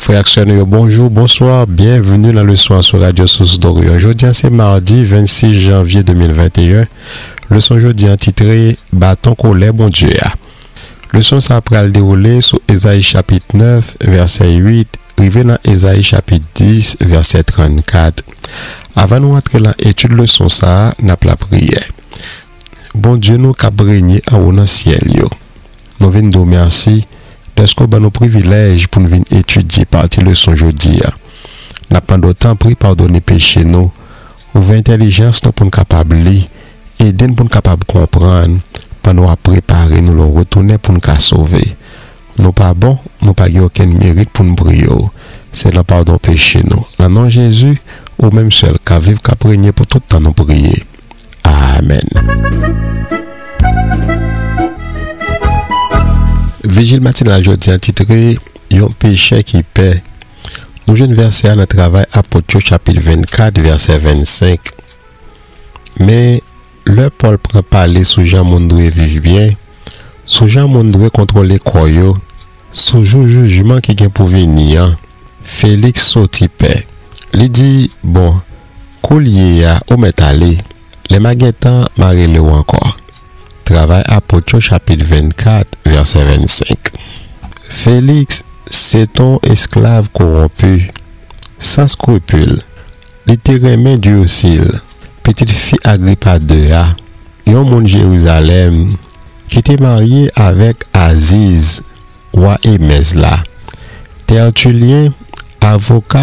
Frè ak sè nou yo bonjou, bonswa, byenvni nan leson an sou Radyo Sous Dòriyon. Jodi a se madi 26 janvye 2021. Leson jodi an titre Baton kolè Bondye a. Leson sa a pral dewoule sou Ezayi chapit 9 vèsè 8 rive nan Ezayi chapit 10 vèsè 34. Avan nou antre lan etid leson sa a, n ap lapriyè. Bondye nou k ap renye anwo nan syèl yo, Nou vin di w mèsi dèske w ban nou privilèj pou n vin etidye pati leson jodi a. N ap mande w tanpri padone peche nou, ouvè entèlijans nou pou n kapab li, ede n pou n kapab konprann pandan w ap prepare nou lè w retounen pou n ka sove. Nou pa bon, nou pa gen okenn merit pou n priye w. Se nan padon peche nou, nan non Jezi, ou menm sèl k ap viv k ap renye pou tout tan nou priye. Amen. Vijil matinal jodi an titre Yon pechè ki pè. Nou jwenn vèsè a nan Travay Apot yo chapit 24 vèsè 25. Men, lè Pòl pran pale sou jan moun dwe viv byen, sou jan moun dwe kontwole kò yo, sou jou jijman ki gen pou vini an, Feliks soti pè. Li di, Bon, Koulye a, ou mèt ale. Lè m'a gen tan, m'a rele ou ankò. Travay Apot yo chapit 24, vèsè 25 Feliks se t on esklav kowonpi, san skrupil, li te renmen Dirsil, pitit fi Agripa ii a, yon moun Jerizalèm ki te marye avèk Aziz, Wa Emèz la. Tètilyen, avoka,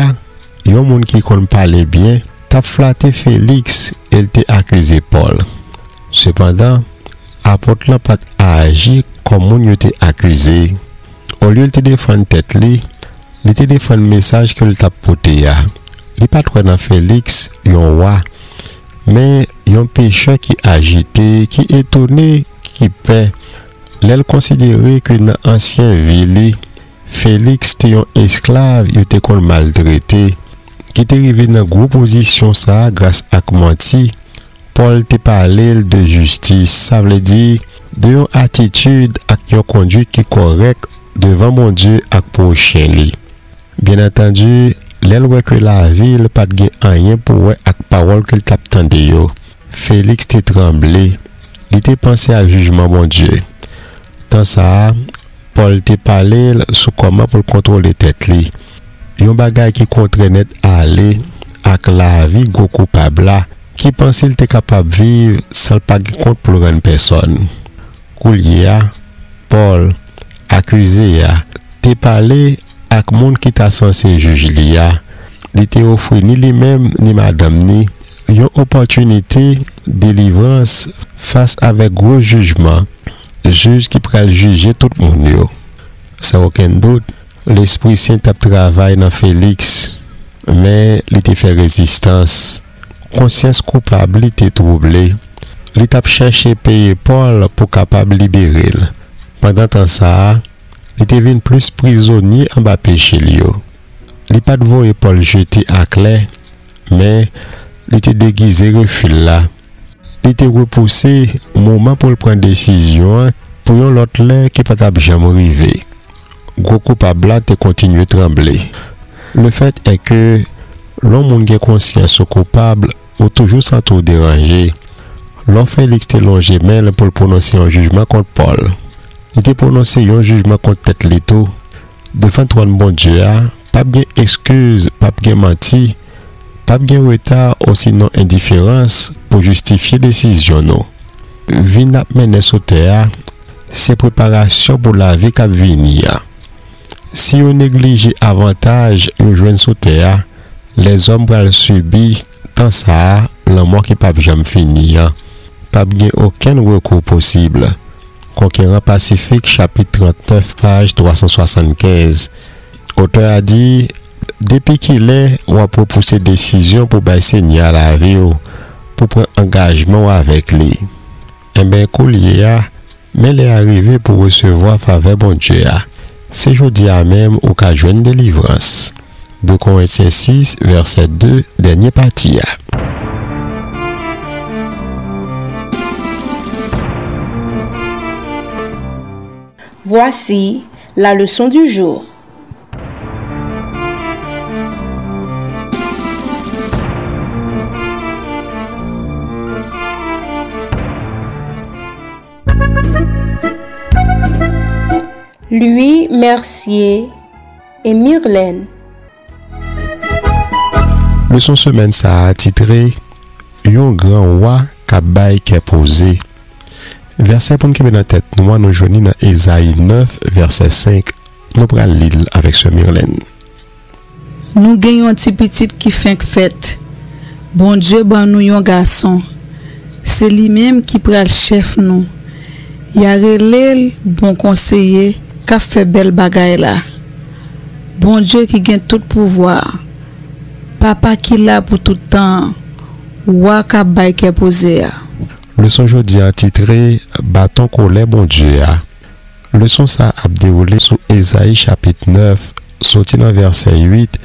yon moun ki konn pale byen, t ap flate Feliks e l te akize Pòl. Sepandan, apot lan pa t aji kòm moun yo te akize. Olye l te defann tèt li, li te defann mesaj ke l t ap pote a. Li pa t wè nan Feliks yon wa, men yon pechè ki ajite, ki etone, ki pè. Lè l konsidere ke nan ansyen vi li, Feliks te yon esklav yo te konn maltrete, ki te rive nan gwo pozisyon sa a gras ak manti, Pòl te pale l de jistis, sa vle di, de yon atitid ak yon konduit ki kòrèk devan Bondye ak pwochen li. Byennantandi, lè l wè ke lavi l pa t gen anyen pou wè ak pawòl ke l t ap tande yo, Félix te tranble, li te panse a jijman Bondye. Tan sa a, Pòl te pale l sou kòman pou l kontwole tèt li, yon bagay ki kontrè nèt ale ak lavi gwo koupab la ki panse l te kapab viv san l pa gen kont pou l rann pèsòn. Koulye a, Pòl, akize a, te pale ak moun ki ta sanse jij li a, li te ofri ni li menm ni madanm ni Yon opòtinite delivrans fas avèk gwo jijman Jij ki pral jije tout moun yo. San okenn dout, lespri sen t ap travay nan Feliks, men li te fè rezistans. Konsyans koupab li te twouble. Li t ap chèche peye Pòl pou kapab libere l. Pandan tan sa a, li te vin plis prizonye anba peche l yo. Li pa t voye Pòl jete aklè. Men, li te degize refi l la. Li te repouse moman pou l pran desizyon an pou yon lòt lè ki pa t ap janm rive. Gwo koupab la te kontinye tranble. Lefèt è ke, lè w moun gen konsyans ou koupab, ou toujou santi w deranje. Lò Feliks te lonje men l pou l pwononse yon jijman kont Pòl, li te pwononse yon jijman kont tèt li tou, devan twòn Bondye a, Pap gen ekskiz, pap gen manti, pap gen reta osinon endiferans pou jistifye desizyon nou. Vi n ap mennen sou tè a se preparasyon pou lavi k ap vini a. Si yo neglije avantaj nou jwenn sou tè a, lèzòm pral sibi tan sa a lanmò ki pap janm fini an. Pap gen okenn rekou posib. Conquérant Pacifique chapit 39 paj 375 Otè a di, Depi ki lè w ap repouse desizyon pou bay Senyè a lavi w, pou pran angajman w avèk Li? Enben, koulye a, men lè a rive pou w resevwa favè Bondye a. Se jodi a menm ou ka jwenn delivrans. 2 Korentyen 6, vèsè 2, dènye pati a. Voici. La leçon du jour Louis Mercier et Mirlène Leson semèn sa a titre Yon gran wa k ap bay kè poze. Vèsè pou n kenbe nan tèt nou an nou jwenn li nan Ezayi 9 vèsè 5, nou pral li l avèk sè Mirlène. Nou gen yon ti pitit ki fenk fèt. Bondye ban nou yon gason. Se li menm ki pral chèf nou. Y a rele l Bon Konseye k ap fè bèl bagay la. Bondye ki gen tout pouvwa a, Papa ki la pou tout tan an, Wa k ap bay kè poze a. Leson jodi a titre, Baton kolè Bondye a. Leson sa ap dewoule sou Ezayi chapit 9, soti nan vèsè 8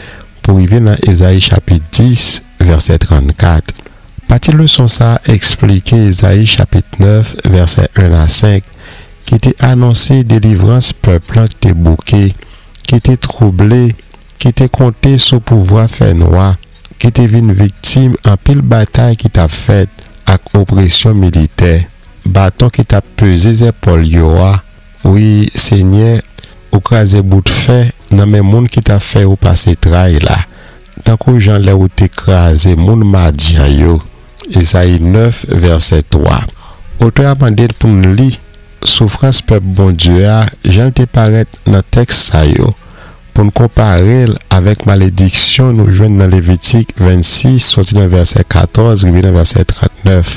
pou rive nan Ezayi chapit 10, vèsè 34. Pati leson sa esplike Ezayi chapit 9, vèsè 1 a 5, ki te anonse delivrans pèp lan k te bouke, ki te twouble, ki te konte sou pouvwa fènwa, ki te vin viktim anpil batay ki t ap fèt ak opresyon militè. Baton ki t ap peze zèpòl yo a, wi, Senyè, ou kraze bout fè nan men moun ki t ap fè yo pase tray la, tankou jan lè ou te kraze moun Madyan yo. Ezayi 9, vèsè 3, otè a mande n pou n li soufrans pèp Bondye a jan l te parèt nan tèks sa yo, pou n konpare l avèk malediksyon nou jwenn nan Levitik 26, soti nan vèsè 14 rive nan vèsè 39.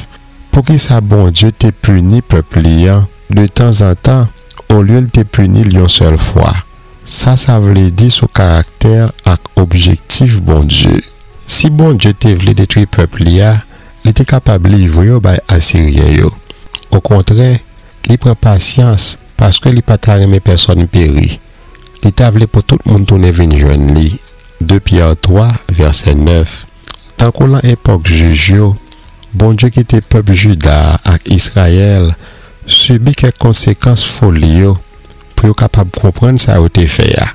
Poukisa Bondye te pini pèp li an detanzantan olye l te pini l yon sèl fwa? Sa sa vle di sou karaktè ak objektif Bondye? Si Bondye te vle detwi pèp li a, li te kapab livre yo bay Asiryen yo. Okontrè, li pran pasyans paske li pa ta renmen pèsòn peri. Li ta vle pou tout moun tounen vin jwenn li, 2 Pyè 3, vèsè 9. Tankou lan epòk Jij yo, Bondye kite pèp Jida a ak Israyèl sibi kèk konsekans foli yo pou yo kapab konprann sa yo te fè a,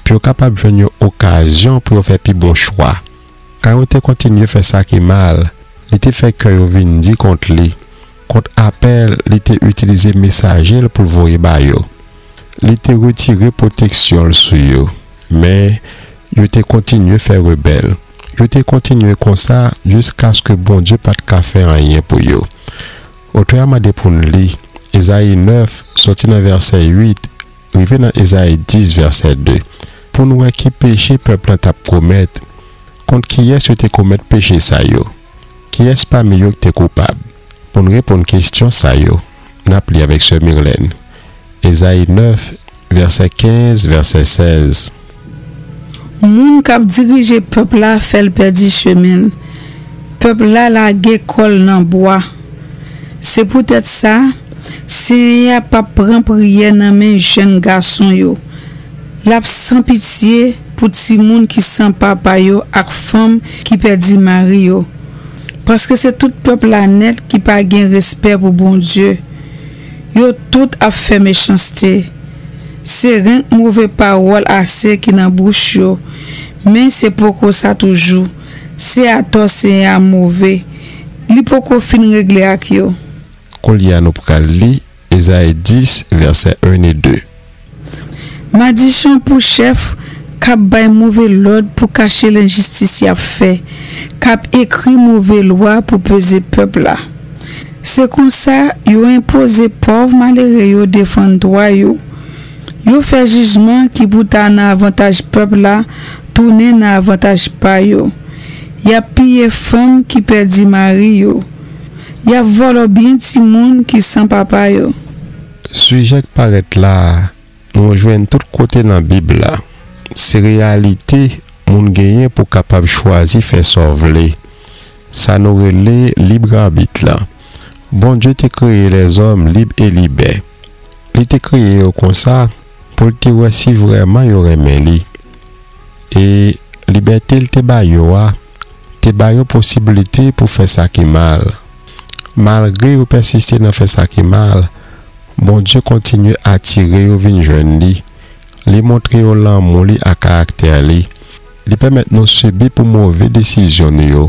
pou yo kapab jwenn yon okazyon pou yo fè pi bon chwa. Arawon te kontinye fè sa ki mal, li te fè kè yo vin di kont li, kont apèl li te itilize mesaje l pou l voye ba yo. Li te retire pwoteksyon l sou yo. Men, yo te kontinye fè rebèl. Yo te kontinye konsa jiskaske Bondye pa t ka fè anyen pou yo. Otè a mande pou n li Ezayi 9, soti nan vèsè 8 rive nan Ezayi 10, vèsè 2, pou n wè ki peche pèp lan t ap komèt, kont kiyès yo te komèt peche sa yo, kiyès pami yo k te koupab. Pou n reponn kesyon sa yo, n ap li avèk sè Mirlène Ezayi 9, vèsè 15, vèsè 16. Moun k ap dirije pèp la fè l pèdi chemen l, pèp la lage kò l nan bwa. Se poutèt sa, Senyè a pap pran priyè nan men jèn gason yo, l ap san pitye pou timoun ki san papa yo ak fanm ki pèdi mari yo, paske se tout pèp la nèt ki pa gen respè pou Bondye. Yo tout ap fè mechanste. Se renk move pawòl ase ki nan bouch yo, men se poko sa toujou. Se atò Senyè a move. Li poko fin regle ak yo. Koulye a nou pral li Ezayi 10, vèsè 1 e 2. Madichon pou chèf k ap bay move lòd pou kache lenjistis y ap fè, k ap ekri move lwa pou peze pèp la. Se konsa yo enpoze pòv malere yo defann dwa yo. Yo fè jijman ki pou ta nan avantaj pèp la tounen nan avantaj pa yo. Y ap piye fanm ki pèdi mari yo. Y ap vòlò byen timoun ki san papa yo. Sijè k parèt la a, nou jwenn tout kote nan Bib la. Se reyalite moun genyen pou kapab chwazi fè sa w vle, sa nou rele librabit la. Bondye te kreye lèzòm lib e libè. Li te kreye yo konsa pou l te wè si vrèman yo renmen li. E libète l te ba yo a te ba yo posiblite pou fè sa ki mal. Malgre yo pèsiste nan fè sa ki mal, Bondye kontinye atire yo vin jwenn li. Li montre yo lanmou li ak karaktè li. Li pèmèt nou sibi pou move desizyon nou yo,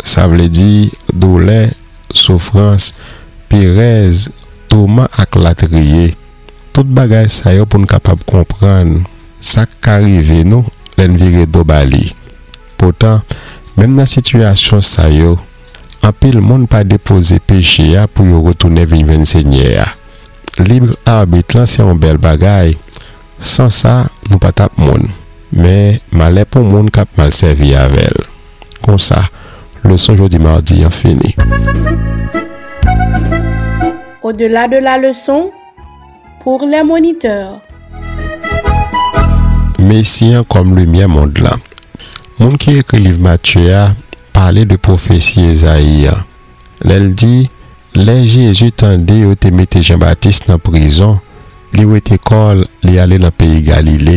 sa vle di doulè, soufrans, perèz, touman ak latriye. Tout bagay sa yo pou n kapab konprann sa k ka rive nou lè n vire do ba li. Poutan, menm nan sitiyasyon sa yo, anpil moun pa depoze peche a pou yo retounen vin jwenn Senyè a. Lib arbit lan se yon bèl bagay, san sa nou pa t ap moun, men malè pou moun k ap mal sèvi avè l. Konsa, leson jodi madi an fini. Au-delà de la leçon, pour les moniteurs. Mesi an kòm limyè mond lan. Moun ki ekri liv Matye a pale de pwofesi Ezayi an, lè l di, Lè Jezi tande yo te mete Jan Batis nan prizon, li wete kò l, li ale nan peyi Galile,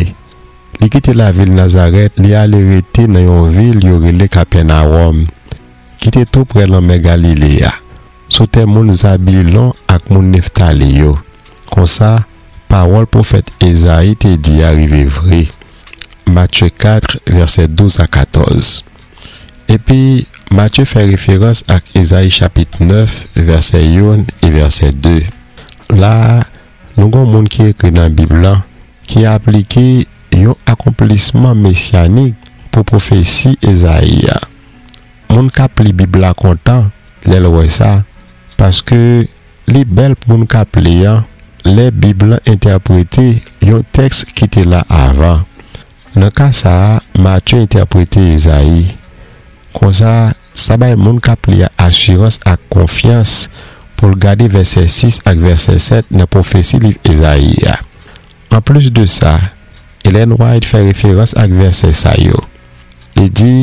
Li kite lavil Nazarèt, li ale rete nan yon vil yo rele Kapènawòm, ki te toupre lanmè Galile a, sou tè moun Zabilon ak moun Neftali yo. Konsa, pawòl pwofèt Ezayi te di a rive vre. Matye 4, vèsè 12 a 14. Epi, Matye fè referans ak Ezayi chapit 9, vèsè 1 e vèsè 2. La a, nou gen yon moun ki ekri nan Bib lan ki aplike yon akonplisman mesyanik pou pwofesi Ezayi a. Moun k ap li Bib la kontan lè l wè sa, paske li bèl pou moun k ap li a lè Bib la entèprete yon tèks ki te la avan. Nan ka sa a, Matye entèprete Ezayi konsa, Sa bay moun k ap li a asirans ak konfyans pou l gade vèsè 6 ak vèsè 7 nan pwofesi liv Ezayi a. Anplis de sa, Ellen White fè referans ak vèsè sa yo. Li di,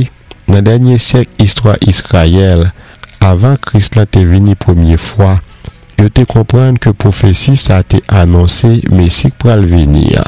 Nan dènye syèk istwa Izrayèl, avan Kris la te vini premye fwa, yo te konprann ke pwofesi sa te anonse Mesi k pral vini an.